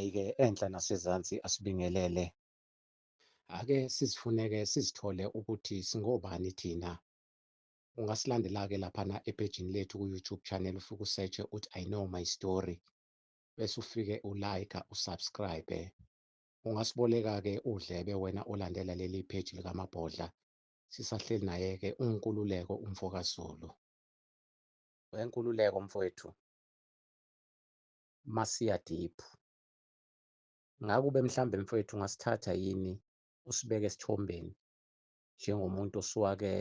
Hhayi-ke enhla nasezansi asibingelele. Ake sizifuneke sizithole ukuthi singobani thina. Ungasilandela-ke laphana epejini lethu ku-YouTube channel ufike usetshe uthi I know my story. Bese ufike ulayikha usubscribe. Ungasiboleka-ke udlebe wena olandela leli page likamabhodla Sisahleli naye-ke uNkululeko umfokaZulu. Wenkululeko mfowethu masiya deep ngakube mhlambe mfowethu ungasithatha yini usibeke esithombeni njengomuntu osuwake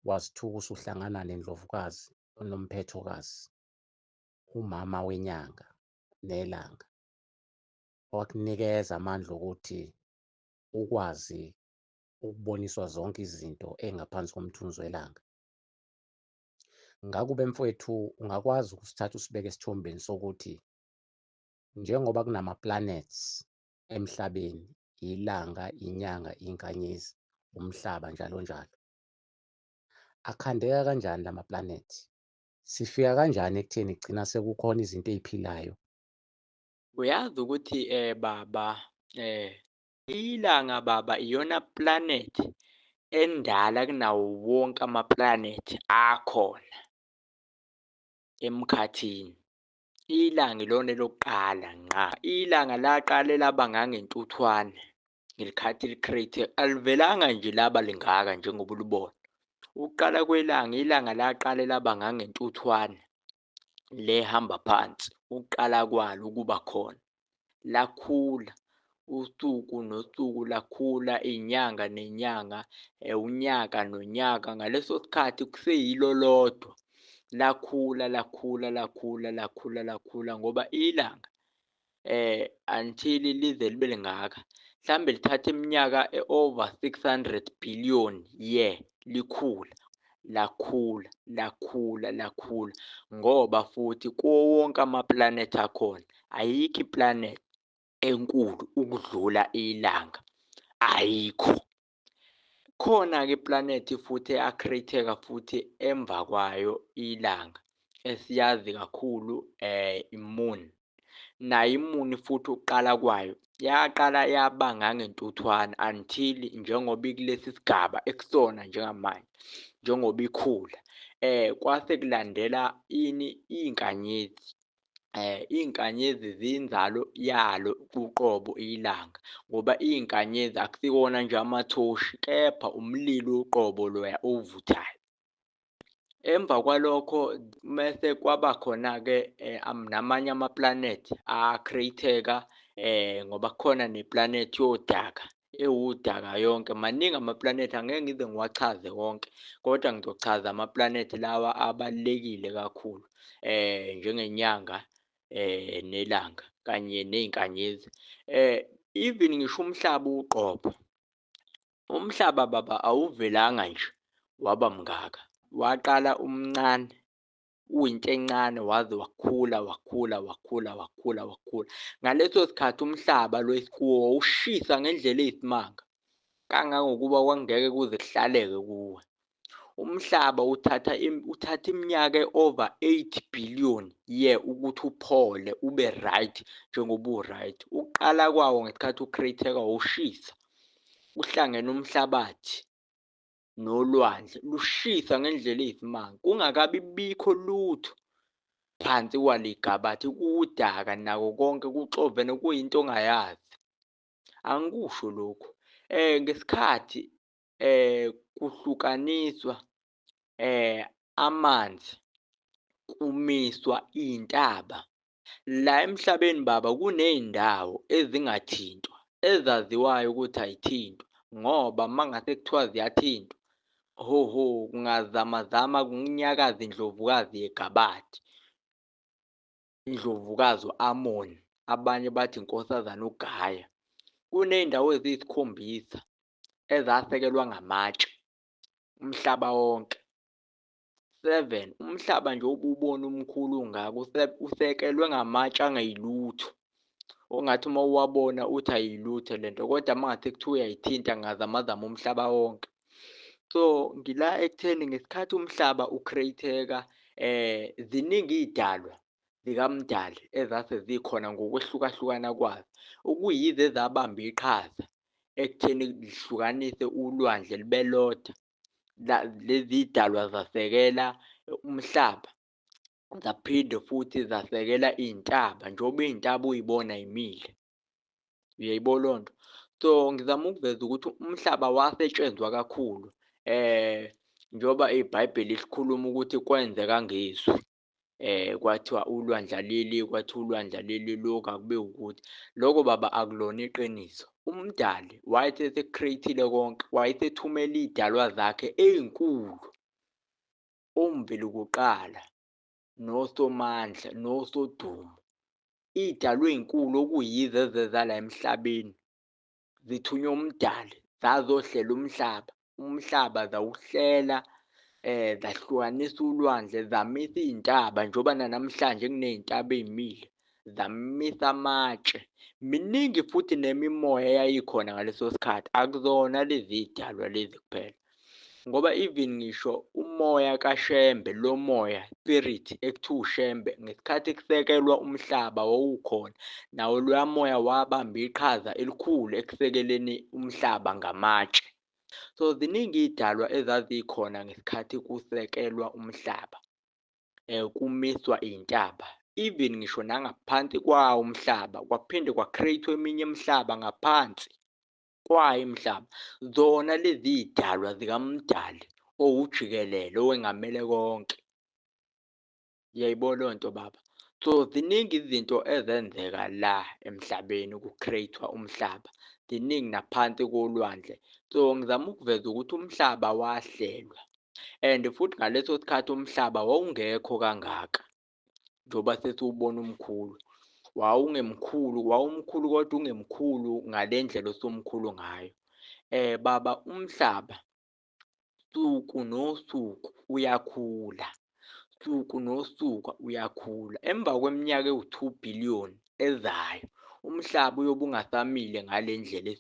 wazithuka usuhlangana nendlovukazi onomphethokazi umama wenyanga nelanga wakunikeza amandla okuthi ukwazi ukuboniswa zonke izinto engaphansi komthunzi welanga. Ngakube mfwethu ungakwazi ukusithatha usibeke esithombeni sokuthi njengoba kunama-planets emhlabeni, ilanga, inyanga, inkanyezi, umhlaba njalo njalo. Akhandeka kanjani la ma-planet? Sifika kanjani ekutheni kugcina sekukhona izinto ey'philayo? Uyazi ukuthi um baba um Ilanga baba iyona planet endala kunawo wonke amaplanet akhona emkhathini. Ilanga ilona elokuqala ngqa. Ilanga laqale laba ngangentuthwane ngelikhathi li-create. Alivelanga nje laba lingaka njengoba ulibona. Ukuqala kwelanga, ilanga laqale laba ngangentuthwane lehamba phansi ukuqala kwalo ukuba khona lakhula usuku nosuku lakhula inyanga nenyanga eh, unyaka nonyaka ngaleso sikhathi kuseyilo lodwa lakhula lakhula lakhula lakhula lakhula ngoba ilanga eh until lize libe lingaka mhlambe lithatha iminyaka eover 600 billion year likhula lakhula lakhula lakhula ngoba futhi kuwo wonke amaplanethi akhona ayikho iplanethi enkulu ukudlula ilanga ayikho Khona-ke iplanethi futhi eyakhreyitheka futhi emva kwayo ilanga esiyazi kakhulu um iMoon. Nayo iMoon futhi ukuqala kwayo yaqala yaba ngangentuthwana until njengoba ikulesi sigaba ekusona njengamanje njengoba ikhula. Um kwase kulandela ini iy'nkanyezi eh izinkanyezi zinzalo yalo uqobo ilanga ngoba izinkanyezi akusikona nje amathoshi kepha umlilo uqobo loya ovuthayo emva kwalokho mese kwaba khona ke eh, namanye amaplanet a createka eh ngoba khona neplanet yodaka ewudaka yonke maningi amaplanethi angeke ngize ngiwachaze wonke kodwa ngizochaza amaplanethi lawa abalulekile kakhulu eh njengenyanga eh nelanga kanye nezinkanyezi eh even ngisho umhlaba uqobo umhlaba baba awuvelanga nje waba mngaka waqala umncane uyinto encane waze wakhula wakhula wakhula wakhula wakhula ngaleso sikhathi umhlaba lo esikuwo ushisa ngendlela eyisimanga kangangokuba kwangeke kuze kuhlaleke kuwe umhlaba uthatha uthatha iminyaka over 8 billion ye ukuthi uphole ube right njengoba uright uqala kwawo ngesikhathi ucreateka ushisa uhlangene umhlabathi nolwandle lushisa ngendlela eyisimanga kungakabi bikho lutho phansi kwaligabathi kuwudaka nako konke kuxovene kuyinto ongayazi angikusho lokhu eh ngesikhathi eh kuhlukaniswa eh amanzi kumiswa intaba La emhlabeni baba kuney'ndawo ezingathintwa ezaziwayo ukuthi ayithintwa ngoba uma ngase kuthiwa ziyathintwa hoho kungazamazama kunyakaza indlovukazi yegabadi indlovukazi u-amoni abanye bathi inkosazana ugaya kuney'ndawo eziyisikhombisa ezasekelwa ngamatshe umhlaba wonke 7 umhlaba nje obubona umkhulu ungaka usekelwe ngamatshe angayilutho ongathi uma uwabona uthi ayilutho lento kodwa mangathi kuthiwa uyayithinta ngazamazama umhlaba wonke so ngila ekutheni ngesikhathi umhlaba ucreateka eh ziningi idalwa zikamdali ezase zikhona ngokwehlukahlukana kwazo okuyize zabamba iqhaza ekutheni lihlukanise ulwandle libeloda lezi dalwa zasekela umhlaba zaphinde futhi zasekela iy'ntaba njengoba iy'ntaba uyibona imile uyayibo loo nto so ngizama ukuveza ukuthi umhlaba wasetshenzwa kakhulu um njengoba ibhayibheli likhuluma ukuthi kwenzeka ngezwi eh kwathiwa ulwandla leli kwathiwa ulwandla leli lokhu akube ukuthi lokho baba akulona iqiniso umdali wayesecreatile konke wayesethumela idalwa zakhe ezinkulu omveli kuqala nosomandla nosodumo idalwe ezinkulu okuyizo ezeza la emhlabeni zithunywa umdali zazohlela umhlaba umhlaba zawuhlela eh zahlukanisa ulwandle zamisa izintaba njoba nanamhlanje kunezintaba ezimile zamisa amatshe miningi futhi nemimoya eyayikhona ngaleso sikhathi akuzona lezi zidalwa lezi kuphela ngoba even ngisho umoya kaShembe lo moya spirit ekuthiwa uShembe ngesikhathi kusekelwa umhlaba wawukhona nawo loya moya wabamba iqhaza elikhulu ekusekeleni umhlaba ngamatshe so ziningi iy'dalwa ezazikhona ngesikhathi kusekelwa umhlaba um kumiswa iy'ntaba even ngisho nangaphansi kwawo umhlaba kwaphinde kwa-create-wa eminye imihlaba ngaphansi kwayo umhlaba zona lezi zidalwa zikamdali owujikelele owengamele konke yayibona leyo nto baba so ziningi izinto ezenzeka la emhlabeni ku-create-wa umhlaba ziningi naphansi kolwandle so ngizama ukuveza ukuthi umhlaba wahlelwa and futhi ngaleso sikhathi umhlaba wawungekho kangaka njengoba sesiwubona umkhulu wawungemkhulu wawumkhulu kodwa ungemkhulu ngale ndlela osumkhulu ngayo um baba umhlaba suku nosuku uyakhula suku nosuku uyakhula emva kweminyaka ewu-two billion ezayo umhlaba uyobe ungasamile ngale ndlela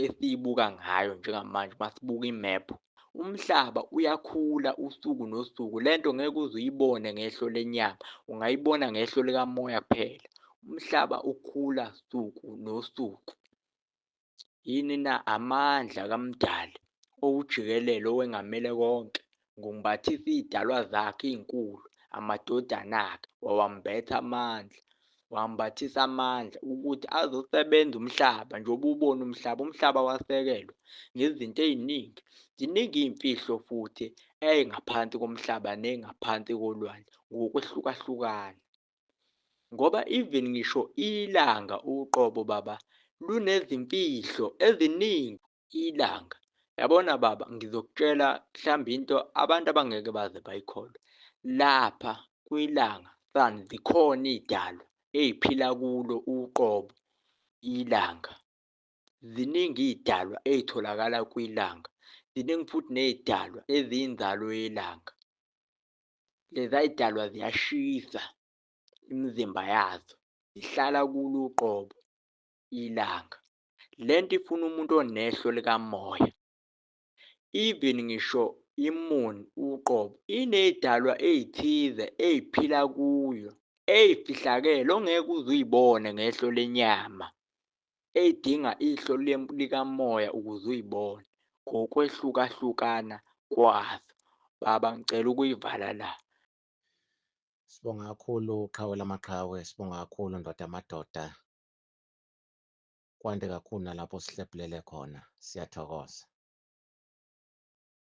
esiyibuka ngayo njengamanje uma sibuka imephu umhlaba uyakhula usuku nosuku le nto ngeke uze uyibone ngehlo lenyama ungayibona ngehlo likamoya kuphela umhlaba ukhula suku nosuku Yini na amandla kaMdali owujikelele owengamele konke? Ngumbathisa iy'dalwa zakhe ey'nkulu, amadodana akhe wawambetha amandla wambathisa amandla ukuthi azosebenza umhlaba njengoba ubona umhlaba umhlaba wasekelwa ngezinto ey'ningi ziningi iy'mfihlo futhi ey'ngaphansi komhlaba ney'ngaphansi kolwandle ngokwehlukahlukana ngoba even ngisho ilanga uqobo baba lunezimfihlo eziningi ilanga yabona baba ngizokutshela mhlawumbe into abantu abangeke baze bayikholwe lapha kwilanga sun zikhona iy'dalwa ey'phila kulo uqobo ilanga ziningi iy'dalwa ey'tholakala kwilanga ziningi futhi ney'dalwa eziyinzalo yelanga lezayidalwa ziyashisa imizimba yazo ihlala kulo uqobo ilanga lento ifuna umuntu onehlo likamoya even ngisho imuni uqobo inezidalwa ezithize eziphila kuyo ezifihlakele ongeke uze uyibone ngehlo lenyama edinga ihlo likamoya ukuze uyibone ngokwehlukahlukana kwazo. Baba ngicela ukuyivala la. Sibonga kakhulu qhawe lamaqhawe, sibonga kakhulu ndoda amadoda. Kwande kakhulu nalapho sihlephulele khona. Siyathokoza.